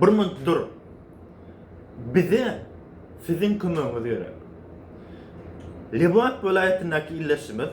Bir minunt dur. Bize siziň kömegiňiz gerek. Lebap welaýatyndaky ildeşimiz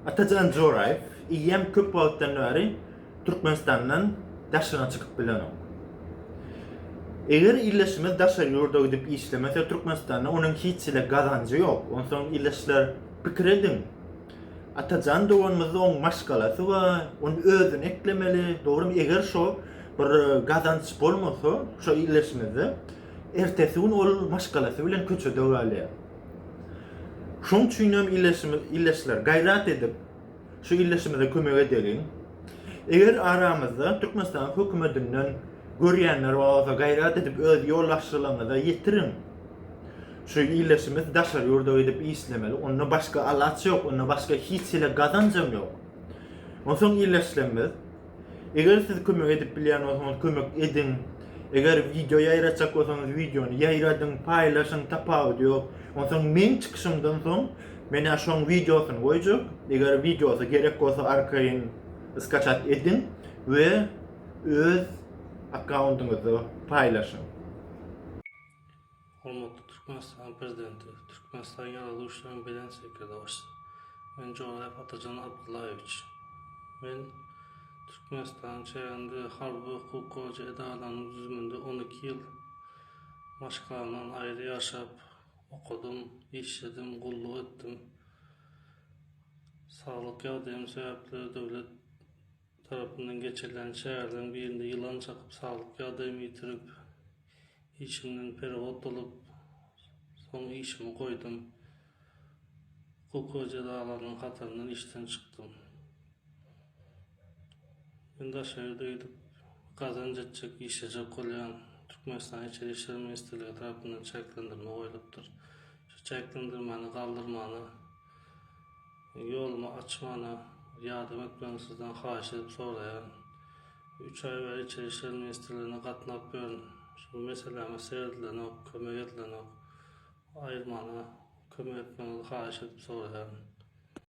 Atajan Joraýew eýýäm köp wagtdan bäri Türkmenistandan daşyna çykyp bilenok. Eger ildeşimiz daşary ýurda gidip işlemese Türkmenistanda onuň hiç hili gazanjy ýok. Onsoň ildeşler pikir ediň. Atajan doganymyzda oň maşgalasy bar, ony özüne eklemeli, dogrymy eger şo bir gazanç bolmasa şo illeşmede ertesi gün ol maşgalasy bilen köçede galýar. Şoň üçin hem illeşimiz illeşler gaýrat edip şu illeşimize kömek edeliň. Eger aramyzda Türkmenistanyň hökümetinden görýänler bolsa gaýrat edip öz ýolbaşçylaryňyza ýetiriň. Şu iýleşimiz daşary ýurda gidip işlemeli, onda başga alaç ýok, onda başga hiç hili gazanjam ýok. Onsoň iýleşlemmiz. Eger siz kömek edip bilýän bolsaňyz kömek ediň. Eger wideo ýaýratjak bolsaňyz wideony ýaýradyň, paýlaşyň, tapawudy ýok. Onsoň meň çykyşymdan soň menä şoň wideosyny goýjak. Eger wideosy gerek bolsa arkaýyn skaçat ediň we öz akkaundyňyzda paýlaşyň. Hormatly Türkmenistanyň Prezidenti, Türkmenistanyň Ýaragly Güýçleriniň Belent Sekirdagçysy, men Joraýew Atajan Abdyllaýewiç. Men Türkmenistanyň çäginde harby okuw goja edaralarynyň düzüminde on iki ýyl maşk alman, aýry ýaşap, okadym, işledim, gulluk etdim. Saglyk ýagdaýym sebäpli döwlet. tarapyndan geçirilen çäreleriň birinde ýylan çakyp saglyk ýagdaýymy ýitirip, işimden peregod bolup, soň işimi goýdum. Hukuk we jezalarynyň hataryndan işden çykdym. Men daşary ýurda gidip, gazanç etjek, işlejek bolýan. Türkmenistanyň Içeri işler ministrligi tarapyndan çäklendirme goýlupdyr. Şu çäklendirmäni galdyrmagyny. Ýolumy açmana ýardam etmegiňi sizden haýyş edip soraýaryn. Üç aý bäri Içeri işler ministrligine gatnap ýörün. Şol meseläme seredilenok, kömek edilenok. Aýyrmana kömek etmegiňizi haýyş edip soraýaryn.